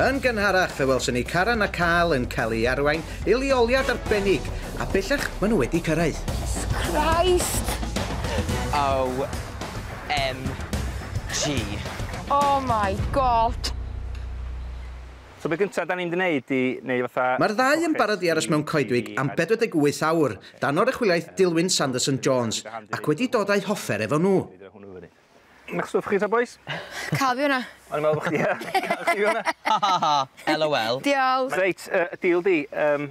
Yn gynharach, fe welson ni Karan a Carl yn cael eu arwain i leoliad arbennig, a bellach maen nhw wedi cyrraedd. Jesus Christ! OMG. Oh my God! So be gynta da ni'n mynd i neud i neu fatha... Mae'r ddau yn barod i aros mewn coedwig am 48 awr, dan oruchwyliaeth Dilwyn Sanderson Jones, ac wedi dod a'u hoffer efo nhw. Mae'ch stwff chi ta bois? Cael fi hwnna. O'n i'n meddwl bod chdi ie. Cael chdi hwnna. Ha ha ha. LOL. Diolch. Reit, y deal di, yym,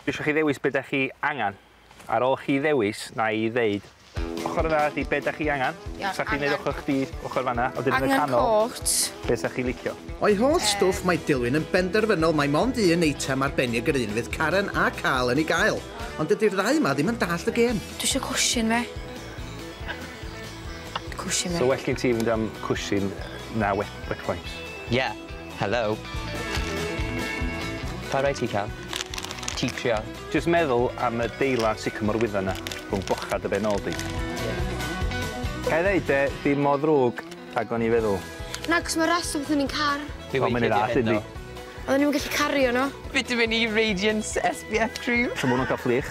dwi isio chi ddewis be' 'dach chi angan. Ar ôl chi ddewis, na i ddeud ochor yna ydi be' 'dach chi angan. Iawn, angan. neud ochor chdi ochor fanna a wedyn yn y canol... Angen cot. ...be' 'sach chi licio. O'i holl stwff mae Dilwyn yn benderfynol mai mond un eitem arbennig yr un fydd Karen a Carl yn ei gael. Ond dydi'r ddau 'ma ddim yn dallt y gêm. Dwi isio cwshin fi. Cwshin e. So well gen ti fynd am cwshin na wet wet wipes? Yeah. Hello. Pa rai ti ca'l? Ti trio. Jyst meddwl am y deilad sycamore wydda 'na rhwng bochad dy ben ôl di. Gai ddeud de, dim mor ddrwg ag o'n i feddwl. Na, 'c'os ma' rest stop yn un car. Dwi wedi ffeindio hyn ddo. Oeddwn i'm yn gallu cario nhw. Vitamin E Radiance SPF cream. So ma' hwnnw'n ca'l fflych?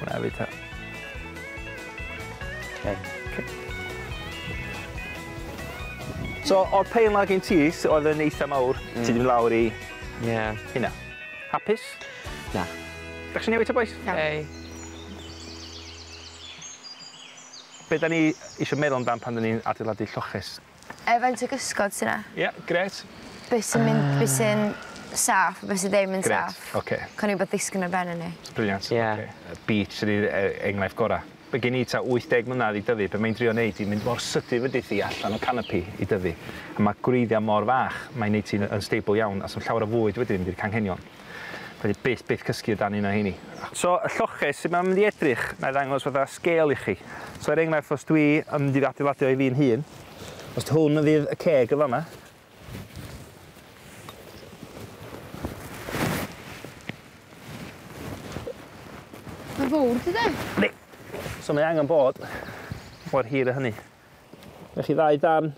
Hwna fi ta. So, o'r pain lag yn ti, oedd yn eitha mawr, mm. ti ddim lawr i... Ie. Yeah. Hynna. Hapus? Na. Da chi newid ta, boys? Na. Ei. Be da ni eisiau meddwl amdan pan da ni'n adeiladu lloches? Yy faint o gysgod sy 'na? Ie grêt. Be' sy'n mynd... Yy. ...be' sy'n saff a be' sy ddim yn saff. Grêt oce. Cawn ni wbeth ddisgyn ar ben hynny. Brilliant. Ie. Oce. Yy beets ydi e- enghraifft gora'. By' gen i tua 80 mlynadd i dyfu be' mae'n drio neud 'di mynd mor sydyn fyddi di allan o canopi i dyfu a ma' gwreiddia' mor fach mae'n neud ti'n yy unstable iawn a sa'm llawer o fwyd wedyn mynd i'r canghenion. Fedri byth byth cysgu o dan un o heini. So y lloches, sut mae'n mynd i edrych? Nai ddangos fatha scale i chi. So er enghraifft os dwi yn mynd i adeiladu o i fi'n hun, os hwn fydd y ceg yn fanna, Mae'n fawr ti de? Yndi. So mae angen bod mor hir a hynny. Mae chi ddau dan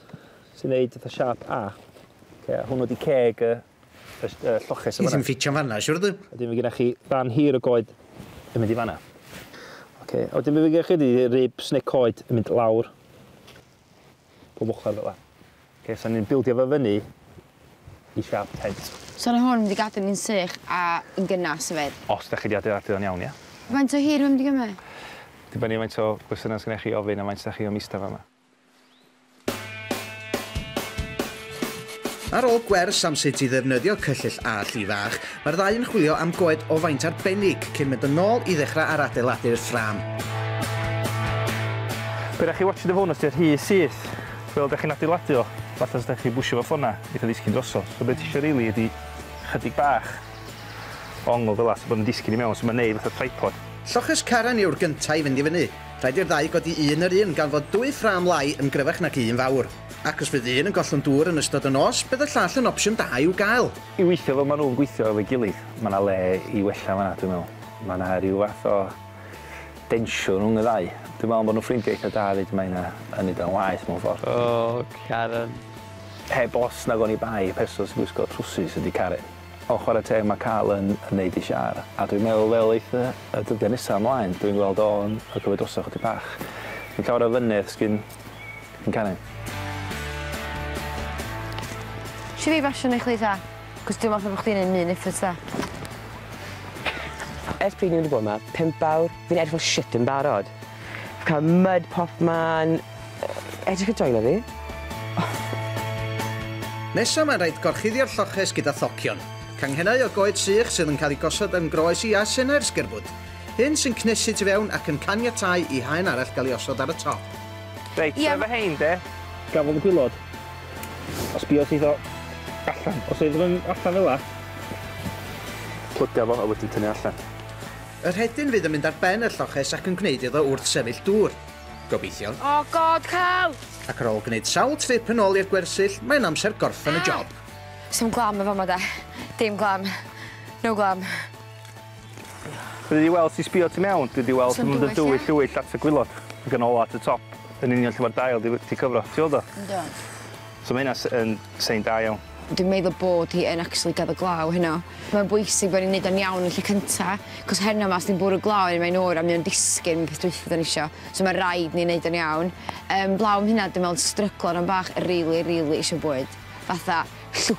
sy'n neud fatha siap A. Okay, hwnnw di ceg y Rhest, uh, lloches yn fanna. Ti ddim ffitio'n fanna, siwr dwi? Ydyn fi gyda chi rhan hir o goed yn mynd i fanna. Oce, okay. a wedyn fi gyda chi ydy ribs neu coed yn mynd lawr. Pob ochr fel la. Oce, okay, so ni'n bildio fe fyny i siap tent. So na hwn wedi gadw ni'n sych a yn gynnas y fed? Os da chi wedi adeiladu o'n iawn, ia. Faint o hir mae'n mynd i gymryd? Dibynnu faint o gwestiynau sy'n eich chi ofyn a faint da chi o mista fa yma. Ar ôl gwers am sut i ddefnyddio cyllyll a lli fach, mae'r ddau yn chwilio am goed o faint arbennig cyn mynd yn ôl i ddechrau ar adeiladu'r ffrâm. Be da chi watch the phone os di'r rhy syth? Wel da chi'n adeiladu o, fatha os da chi bwsio fo ffona, eitha ddisgyn drosodd. So be ti isio rili ydi chydig bach o ongl fela so bod yn disgyn i mewn, so ma'n neud fatha tripod. Lloches Karen yw'r gynta i fynd i fyny. Rhaid i'r ddau godi un yr un gan fod dwy ffrâm lai yn gryfach nag un fawr. Ac os fydd un yn gollwng dŵr yn ystod y nos, bydd y llall yn opsiwn da i'w gael. I weithio fel ma' nhw'n gweithio efo'i gilydd. Ma' 'na le i wella fan'na dwi'n meddwl. Ma' 'na ryw fath o densiwn rhwng y ddau. Dwi'n meddwl bod nhw'n ffrindiau eitha da 'fyd, mae hynna yn neud o'n waeth mewn ffor. O Karen. Heb os nag oni bai y person sy'n gwisgo trwsus ydi Karen. O chwarae teg mae Carl yn yn neud ei siâr a dwi'n meddwl fel eith y y dyddia nesa ymlaen dwi'n gweld o yn y cymryd droso chydig bach. Fi'n cau'r o fyny os gin gin Karen. Isio fi basio neu chdi ta? Cos dwi me'wl bo chdi'n neud myn effort da. Ers pryd ni wedi bod ma? Pump awr? Fi'n edrych fel shit yn barod. Fi ca'l mud popman. Ydych chi'n joio fi? Nesa mae'n rhaid gorchuddio'r lloches gyda thocion. Canghennau o goed sych sydd yn cael eu gosod yn groes i a senau'r sgerbwd. Hyn sy'n cnesu tu fewn ac yn caniatáu i haen arall gael ei osod ar y top. Reit, yeah. efo hein de. Gafodd y gwylod. A sbio syth o allan. Os oedd yn allan fel la. Plyga fo a wedyn tynnu allan. Y rhedyn fydd yn mynd ar ben y lloches ac yn gwneud iddo wrth sefyll dŵr. Gobeithio. Oh god, Carl! Ac ar ôl gwneud sawl trip yn ôl i'r gwersyll, mae'n amser gorffen y job. Sdim glam yn fama de. Dim glam. No glam. Dwi 'di weld ti sbio tu mewn, dwi 'di weld Sdim dy dwyll, dwyll lwyll at y gwilod, ag yn ola at y top, yn union lle ma'r dail 'di 'di cyfro. Ti weld o? Yndw. So mae hynna yn sign da iawn. Dwi'n meddwl bod hi yn actually gaddo glaw heno. Mae'n bwysig bod ni'n neud o'n iawn yn lle cynta, cos heno ma' os ti'n bwrw glaw yn mae'n oer a mae o'n disgyn yn peth dwytha da ni isio. So mae rhaid ni neud o'n iawn. Um, blaw am hynna, dwi'n meddwl stryglo rhan bach, rili, really, really isio bwyd. Fatha, llw,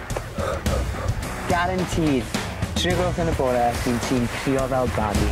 Guaranteed! Tri o gloch yn y bore, bydd ti'n crio fel babi.